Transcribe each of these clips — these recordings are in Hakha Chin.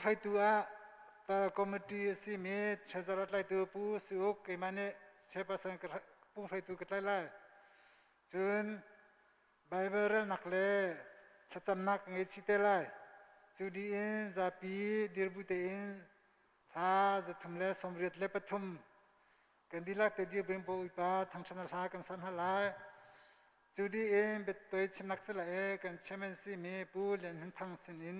hreitu ah tar committee a simi treasurer tlaitu pu si uk keimah nih chairperson ka pu hreitu ka tlai lai cun bible relnak le thlacamnak ka ngei chite lai cu diin zapi dirbu tein hla zathum le sawmriat le pathum kan dilak te dir bring po ipa thangchana hla kan san ha lai cu diin bettoy chimnak sila e kan chairman si mi pu lian hnin thang sinin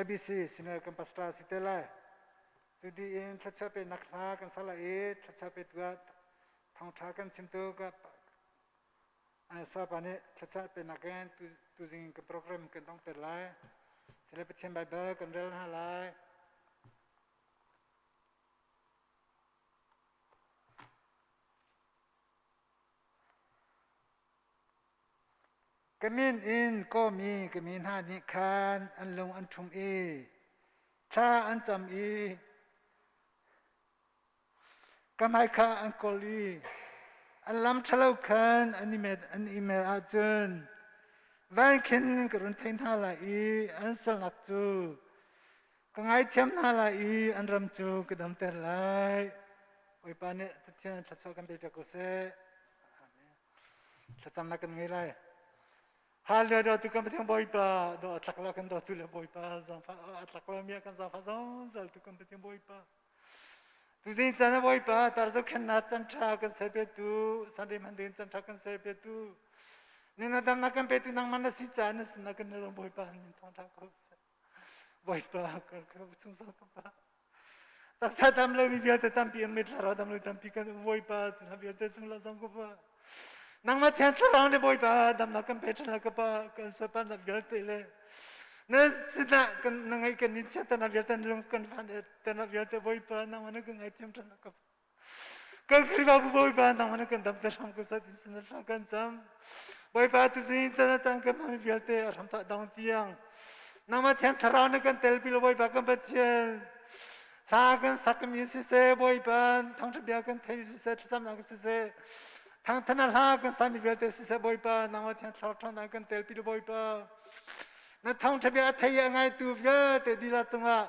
IBC Senior Campus Tra si te lai. Cu diin thlachia pe nak hla kan sala i thlachia pe tu ah thangtha kan sim tu ka sapa nih thlachia pe nak in tu zing in ka program kan tong ter lai. Sile Pathian Bible kan rel hna lai. Ka min in kawmi ka mi hna nih khan an lung an ṭhung i thla an cam i ka hmai kha an kawl i an lam ṭhalo khan an i mer ahcun van khin ka run thei hna lai i an salnak cu ka ngaithiam hna lai i an ram cu ka damter lai bawipa nih Pathian thluachuah kan pe piak u sih thlacam na kan ngei lai hallelujah dotu kan Pathian bawipa do a tlak la kan dotu le bawipa zangfa a tlak la mi kan zangfa zongzal tu kan Pathian bawipa tu zin cana bawipa tar zo khen na can tha kan sai pe tu sande man din can tha kan sai pe tu nina dang na kan pe tu nang man na si cha na sin na kan ro bawipa nin thong tha ko Bawipa kan kan chung sa ka pa. Tak sa tam lo mi vialte tampi am mit lara dam lo tampi kan Bawipa sun ha vialte sung la sang ka pa. Nangma thian thlarang le Bawipa dam na kan pe than la ka pa kan sapan na vialte le na sina kan na ngai kan ni chia tan na vialte lung kan fan e tan na vialte Bawipa nangma na kan ngai thiam than la ka pa. Kan Khrihfabu Bawipa nang na kan damte hram ko sat in sana hla kan cam. Bawipa tu zin cana cang kan mami vialte a hram ta dong tiang. Nangma thian thlarau na kan tel bilo Bawipa kan Pathian. Hla kan sak mi si se Bawipa thang thabia kan thei si se thlacam na si se. Thang thana hla kan sami vialte si se Bawipa nangma thian thlarau thang na kan tel bilo Bawipa. Na thang thabia thei a ngai tu vialte dila cungah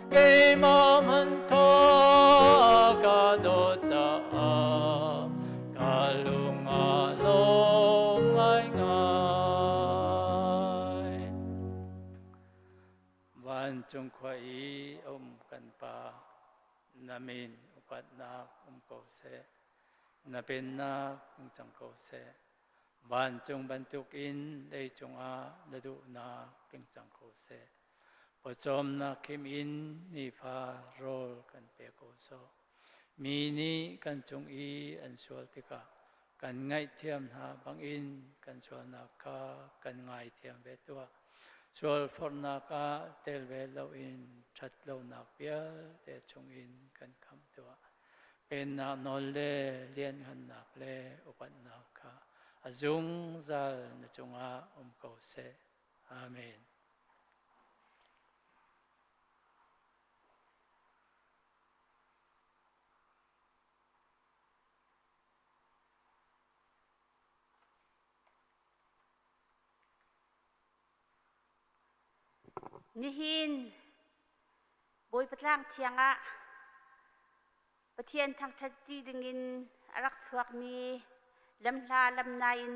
keimah man kha ka dawt caah ka lungah lawm ngaingai vancung khua i a um kan pa na min upatnak um ko seh na pennak um cang ko seh vancung bantuk in lei cungah na duhnak king cang ko seh Pawcawmnak kim in nifa rawl kan pe ko sawh. Mi nih kan cung i an sual tikah kan ngaihthiam hna bangin kan sualnak kha kan ngaithiam ve tuah. Sualforhnak ah tel ve loin ṭhat lonak vialte chungin kan khamh tuah. Pennak nawl le lianhngannak le upatnak kha a zungzal na cungah um ko seh. Amen. Nihin Bawi Patlang Thiang ah Pathian thangṭhatṭi dingin a rak chuakmi lamhla lamna in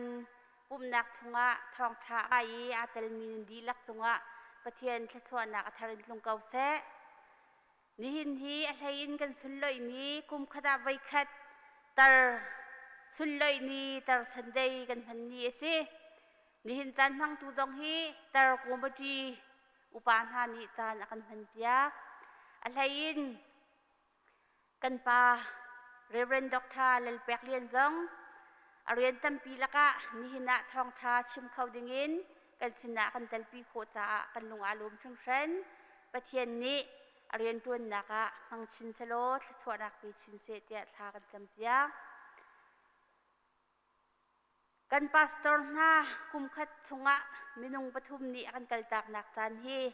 pumhnak chungah thawngṭha ai i aa telmi nan dihlak cungah Pathian thluachuahnak a thar in tlung ko seh. Nihin hi a hleiin kan sunloihmi kum khat ah voi khat tar sunloih ni tar Sunday kan hman ni a si. Nihin caan hmangtu zong hi tar kumati upa hna nih caan a kan hman piak. A hleiin Kan pa Reverend Doctor Lal Pek Lian zong a rian tampi lakah nihin ah thawngṭha chim kho dingin kan sinah kan telpi khawh caah kan lung aa lum hringhran. Pathian nih a rianṭuannak ah hmang chin selaw thluachuahnak pe chin seh tiah thla kan campiak. Kan pastor hna kumkhat chungah minung pathum nih a kan kaltaknak caan hi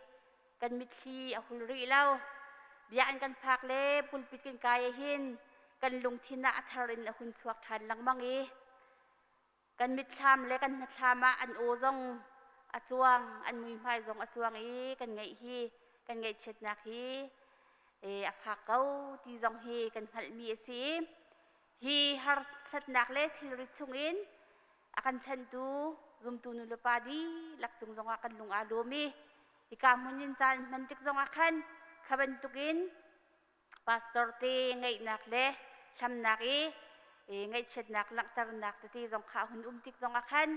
kan mitthli a hul rih lo. Bia an kan phak le pulpit kan kai hin kan lungthin ah a thar in a hun chuak ṭhan lengmang i kan mitthlam le kan hnatthlam ah an aw zong a cuang, an muihmai zong a cuang i kan ngaih hi kan ngaihchiatnak hi a fak ko ti zong hi kan hngalhmi a si. hi harsatnak le thilrit chungin a kan chantu zumtu nulepa dihlak cung zongah kan lung aa lawm i hika hmun in caan hman tik zongah khan kha bantukin pastor te ngaihnak le hlamnak i ngaihchiatnak langhternak tete zong kha hun um tik zongah khan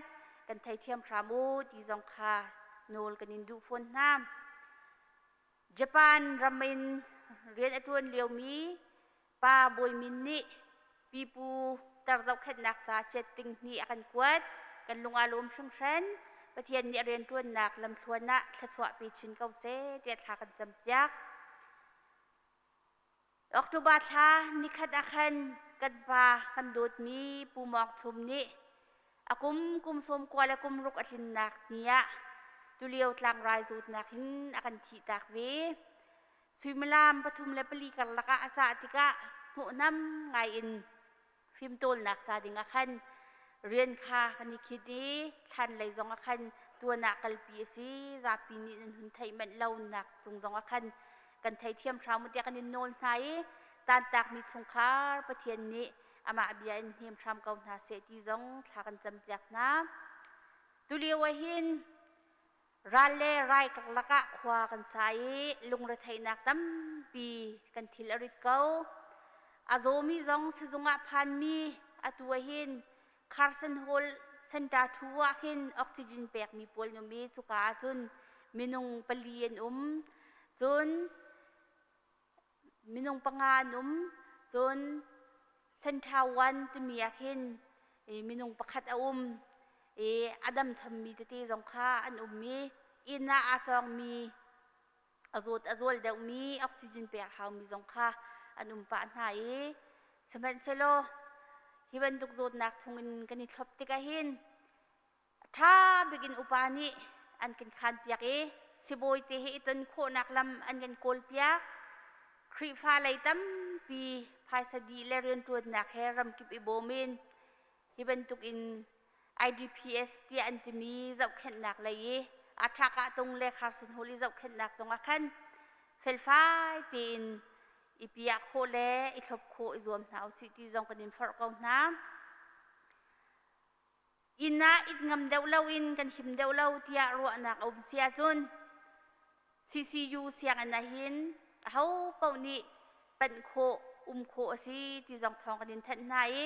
kan theithiam hram u ti zong kha nawl kan in duh fawn hna. Japan ram in rian a ṭuan liomi Pa Bawi Min nih pipu tar zohkhenhnak ca ciat ding ni a kan kuat. Kan lung aa lawm hringhran. Pathian nih a rianṭuannak lamthluan ah thluachuahpi chin ko seh tiah thla kan campiak. October thla nikhat ah khan kan pa kan dawtmi Pu Mawk Thum nih a kum kum sawm kua le kum ruk a tlinnak ni ah tulio tlangrai zawtnak in a kan thihtak ve. Suimilam pathum le pali karlak ah a cah tikah hnawhnam ngaiin fimtawlnak ca ding ah khan rian kha kan i khit i thlanlei zong ah khan tuan ah kalpi a si zapi nih nan hun theih manh lonak cung zong ah khan kan theithiam hram u tiah kan in nawl hna i tantakmi chungkhar Pathian nih amah bia in hnem hram ko hna seh ti zong thla kan campiak hna tulio ah hin ral le rai karlak ah khua kan sa i lungretheihnak tampi kan thil a rit ko. A zawmi zong sizung ah phanmi atu ahin Carson Hall Center thu ah hin oxygen pekmi pawl num i cuka ah cun minung pali an um. Cun minung panga an um cun Center One timi ah khin minung pakhat a um i a dam chammi tete zong kha an um i inn ah aa cawngmi a zawt a zual deuhmi oxygen pek haumi zong kha an um pah hna i sihmanhsehlaw hi bantuk zawtnak chungin kan i thlop tik ahhin A ṭha bikin upa nih an kan khanpiak i sibawite he i ton khawhnak lam an kan kawlpiak. Khrihfa lei tampi phaisa dih le rianṭuannak he ramkip i bawm in hi bantukin IDPS tiah an timi zohkhenhnak lei i a ṭhakahtung le Carson Hall i zohkhenhnak zongah khan felfai tein i piah khawh le i thlop khawh i zuam hna usih ti zong kan in forh ko hna. inn ah it ngam deuh loin kan him deuh lo tiah ruahnak a um si ahcun CCU sianginn ahhin aho paoh nih panh khawh um khawh a si ti zong thawng kan in thanh hna i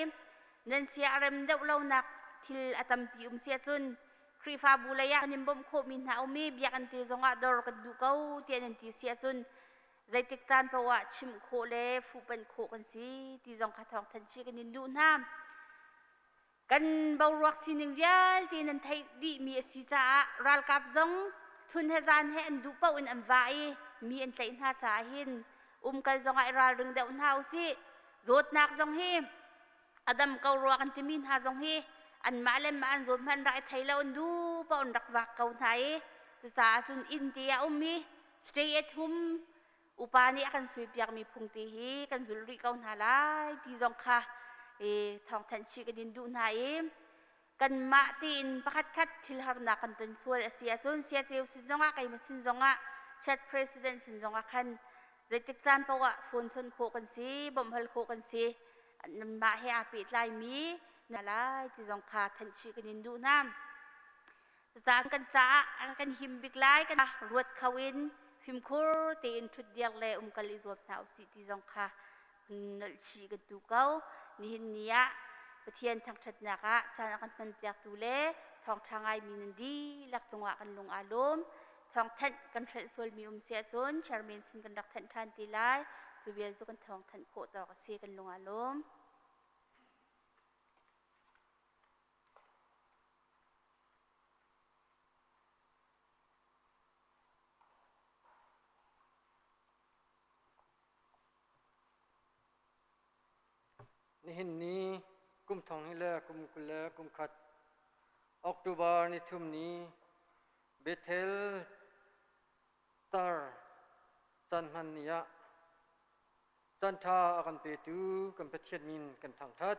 nan sia a rem deuh lonak thil a tampi um si ahcun Khrihfabu lei ah kan in bawmh khawhmi hna um i biakinn te zong ah dor kan duh ko tiah nan ti si ahcun zeitik caan paoh ah chimh khawh le fuhpanh khawh kan si ti zong kha thawng thanh chih kan in duh hna. kan boruak sining vialte nan theih dihmi a si caah ralkap zong chun he zan he an duh paoh in an vah i mi an tlaih hna caah hin umkal zongah i ralring deuh hna usih zawtnak zong hi a dam ko rua kan timi hna zong hi anmah le mah an zawt hmanh rak i thei lo an duh paoh in rak vak ko hna i cucaah cun inn te a um i stay at home upa nih a kan suipiakmi phungte hi kan zulh rih ko hna lai ti zong kha e, thawngthanh chih kan in duh hna i kanmah tiin pakhatkhat thil harnak kan ton sual a si ahcun siaceu sin zongah keimah sin zongah chat president sin zongah khan zeitik caan paohah phone chon khawh kan si bawmh hal khawh kan si nanmah he aa pehtlaimi na lai ti zong kha thanh chih kan in duh hna Zang kan caah an kan him bik lai kan ruat kho in fimkhur tein thut diak le umkal i zuam hna usih ti zong kha nolhchih kan tu ko nihin ni ah Pathian thangthatnak ah caan a kan ton piaktu le thawngtha ngai mi nan dihlak cungah kan lung aa lum thawngthanh kan hrelh sualmi um si ahcun chairman sin kan rak thanh than ti lai cu vial cu kan thawngthanh khawh tawk a si kan lung aa lum Nihin ni kum thong ni le kum kul le kum khat October nithum ni Bethel tar caan hman ni ah caanṭha a kan petu kan Pathian min kan thangṭhat.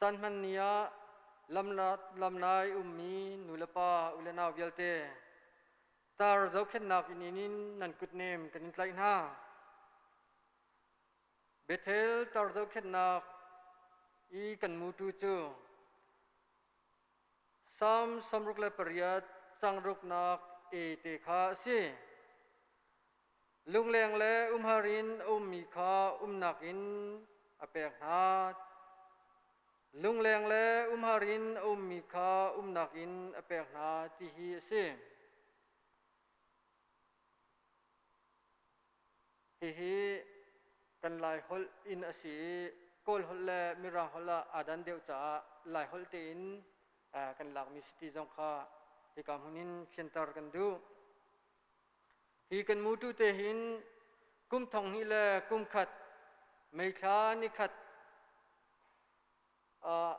Caan hman ni ah lam nai ummi nulepa ule nau vialte tar zohkhenhnak inn in nan kutnem kan in tlaih hna. Bethel tar zohkhenhnak i kan mutu cu Salm sawmruk le pariat cang ruknak e te kha a si. Lungleng le umhar in a ummi kha umnak in a pek hna. Lungleng le umhar in a ummi kha umnak in a pek hna ti hi a si. Hihi kan Lai holh in a si i Kawl holh le Mirang holh ah aa dan deuh caah Lai holh tein kan lakmi siti zong kha hika hmun in khianter kan duh. Hi kan mutu te hin kum thong hnih le kum khat meithla nikhat ah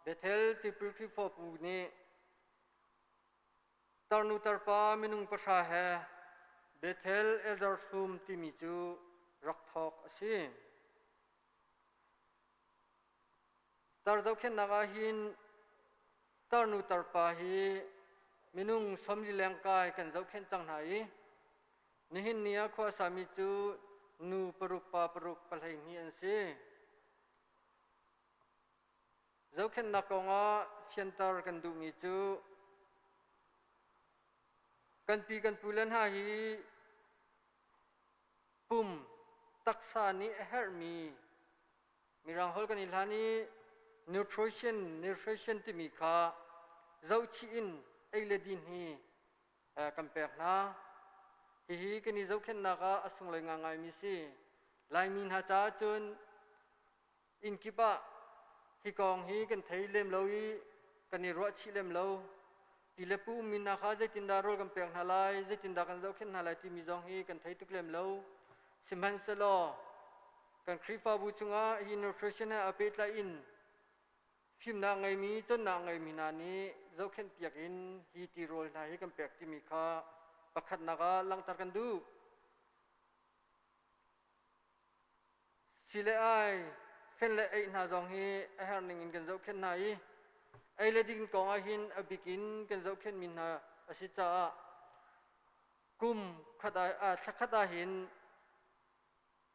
Bethel tipil Khrihfabu nih tarnu tarpa minung pahra he Bethel Elder Sum timi cu rak thawk a si. Tar zohkhenhnak ah hin tarnu tarpa hi minung sawmlileng kai kan zohkhenh cang hna i nihin ni ah khua sami cu nu paruk pa paruk pahleihnih an si. Zohkhenhnak kongah fianter kan duhmi cu kan pi kan pule hna hi pum taksa nih a herhmi Mirang holh kan i hlan i nutrition, nutrition timi kha zohchih in ei le din hi kan pek hna. Hihi kan i zohkhenhnak ah a sunglei ngaingaimi si. Laimi hna caah cun inn kip ah hi kong hi kan thei lem lo i kan i ruahchih lem lo. Pi le pu mi hna kha zeitindah rawl kan pek hna lai, zeitindah kan zohkhenh hna lai timi zong hi kan thei tuk lem lo. Sihmanhsehlaw kan Khrihfabu chungah hi nutrition he aa pehtlai in fimnak ngeimi, cawnnak ngeimi hna nih zohkhenh piak in hi tirawl hna hi kan pek timi kha pakhatnak ah langhter kan duh. Ci le ai, fen le ei hna zong hi a herning in kan zohkhenh hna i ei le ding kong ah hin a bik in kan zohkhenh mi hna a si caah kum khat ah aa thla khat ah hin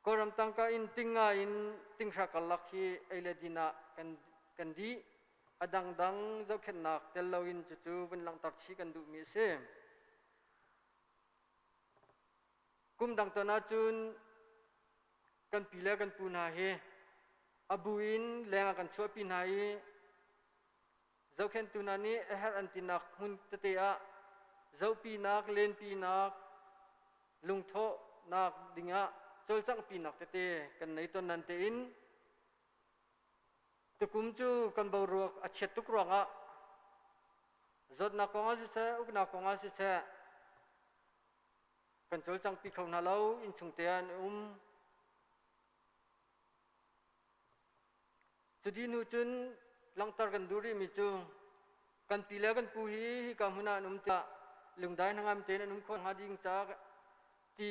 Kawlram tangka in ting nga in tinghra karlak hi ei le din ah kan kan dih a dangdang zohkhenhnak tel lo in cucu vun langhter chih kan duhmi a si. Kum dang ton ahcun kan pi le kan pu hna hi a bu in leng ah kan chuahpi hna i zohkhenhtu hna nih a herh an tinak hmun tete ah zohpinak, lenpinak, lungthawhnak dingah cawlcanghpinak tete kan nei ton nan tein tukum cu kan boruak a chiat tuk ruangah zawtnak kong ah siseh uknak kong ah siseh kan cawlcangpi kho hna lo innchung te ah an um cuti nu cun langhter kan duh rihmi cu kan pi le kan pu hi hika hmun ah an um tiah lungdai hnangam tein an um khawh hnga ding ca ti